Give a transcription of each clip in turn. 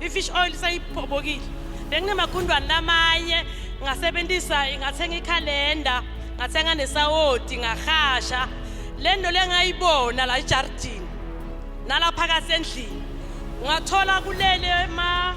I-fish oil seyiphobokile. Benginamagundwane lamanye ngasebenzisa ngathenga ikhalenda, ngathenga nesawoti, ngahasha. Le nto le ngayibona la ejardini nala phakathi endlini. Ngathola kulele ma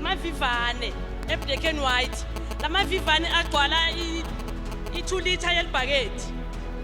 mavivane eblack and white. La mavivane agcwala i-2 liter yelibhaketi.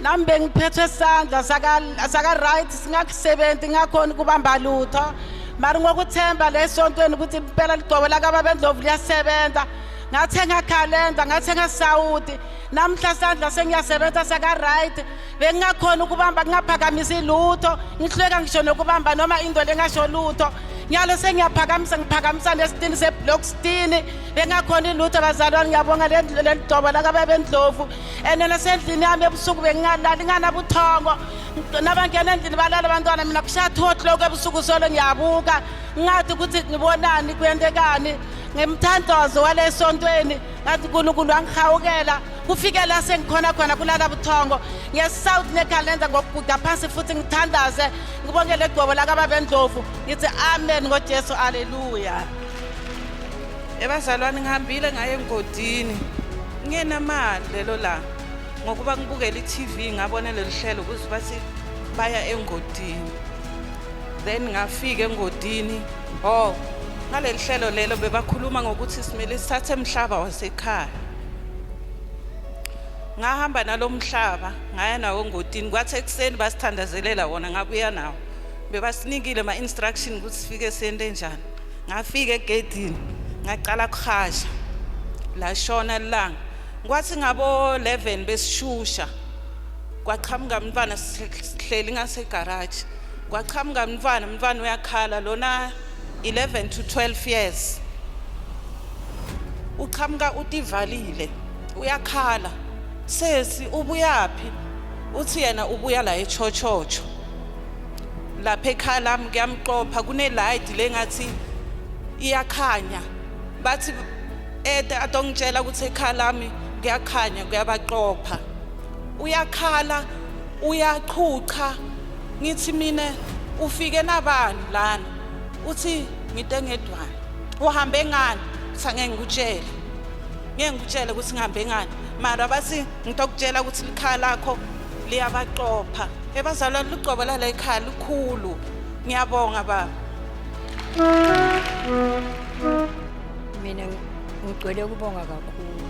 nami bengiphethwe isandla saka-right singakusebenzi ngakhona ukubamba lutho mari ngokuthemba le sontweni ukuthi impela ligcobo lakababendlovu liyasebenza ngathenga calenda ngathenga sawudi namhla sandla sengiyasebenza saka-right bengingakhona ukubamba ngingaphakamisi lutho ngihluleka ngisho nokubamba noma into lengasho lutho nyalo sengiyaphakamisa ngiphakamisa nesitini seblock stini bengakhona ilutho bazalwane ngiyabonga leli dobo lakababendlovu and nasendlini yami ebusuku bengingalali nganabuthongo nabangena endlini balala abantwana mina kushathothi lokho ebusuku solo ngiyabuka ngathi ukuthi ngibonani kuyentekani ngemthandazo walesontweni ngathi unkulunkulu wangihawukela kufike la sengikhona khona kulala buthongo ngesouth nekhalenda ngokuguda phansi futhi ngithandaze ngibongele igcobo lakababendlovu ngithi amen ngojesu aleluya ebazalwane ngihambile ngaye engodini ngenamali lelo langa ngokuba ngibukela i-tv ngabona leli hlelo kuze bathi baya engodini then ngafika engodini oh ngaleli hlelo lelo bebakhuluma ngokuthi simele sithathe emhlaba wasekhaya ngahamba nalomhlaba ngaya nawo ngotini kwathi ekuseni basithandazelela wona ngabuya nawo bebasinikile ama instruction ukuthi sifike sente njani ngafika egedini ngaqala kuhasha lashona ilanga kwathi ngabo 11 besishusha kwaqhamuka umntwana sihleli ngasegarage kwaqhamuka umntwana umntwana uyakhala lona 11 to 12 years uqhamuka utivalile uyakhala sesi ubuyaphi uthi yena ubuya la echochocho lapha ekhaya lami kuyamqopha kuneladi lengathi iyakhanya bathi ede adongitshela ukuthi ekhaya lami kuyakhanya kuyabaqopha uyakhala uyachucha ngithi mina ufike nabani lana uthi ngite ngedwana uhambe ngani uthi angeke ngikutshele ngeke ngikutshele ukuthi ngihambe ngani mara bathi ngitokutshela ukuthi likhaya lakho liyabaqopha ebazalwane lucobo lala ekhaya lukhulu ngiyabonga baba mina ngigcwele ukubonga kakhulu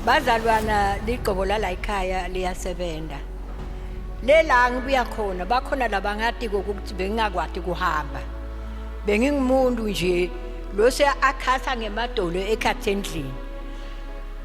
bazalwana ligcobo lala ekhaya liyasebenza lela ngibuya khona bakhona labangati kokuthi bengingakwati kuhamba bengingumuntu nje lo seyakhasa ngemadolo ekhathi endlini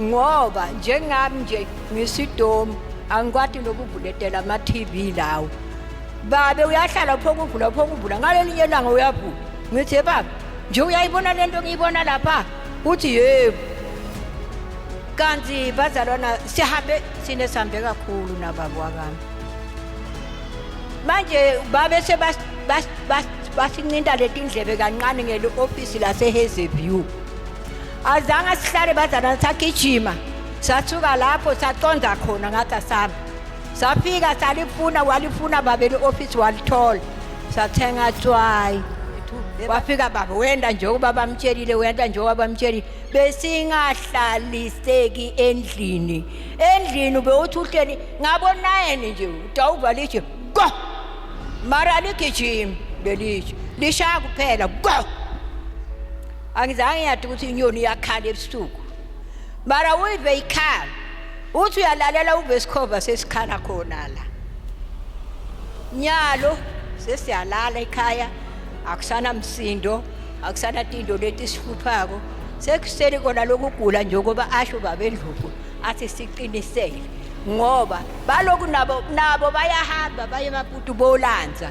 ngoba njengami nje ngisidomu angikwati nokuvuletela ama-tv lawo babe uyahlala phokuvula phokuvula ngalelinye langa uyavula ngithi baba nje uyayibona le nto ngiyibona lapha uthi yebo kanti bazalwana sihambe sine sihambe kakhulu nababa wakami manje babe sebasincinta letindlebe kancane ngele ofisi lasehazy view azange sihlale bazana sagijima sathuka lapho saqonda khona ngathi asami safika salifuna walifuna babeli ofisi walithola sathenga tswayi wafika baba wenda njengoba bamtshelile wenda njengoba bamtshelile besingahlaliseki endlini endlini bewuthi uhleli ngabonayeni nje utawuva litshe go mara ligijimi belitshe lishaya kuphela go angizange ngiyade ukuthi inyoni iyakhala ebusuku mara uyive ikhala uthi uyalalela uve isikhova sesikhala khona la nyalo sesiyalala ekhaya akusana msindo akusana tindo leti sihluphako sekusele kona lokugula nje ukuba asho babendluku athi siqinisele ngoba baloku nabo nabo bayahamba baye maputu bolanza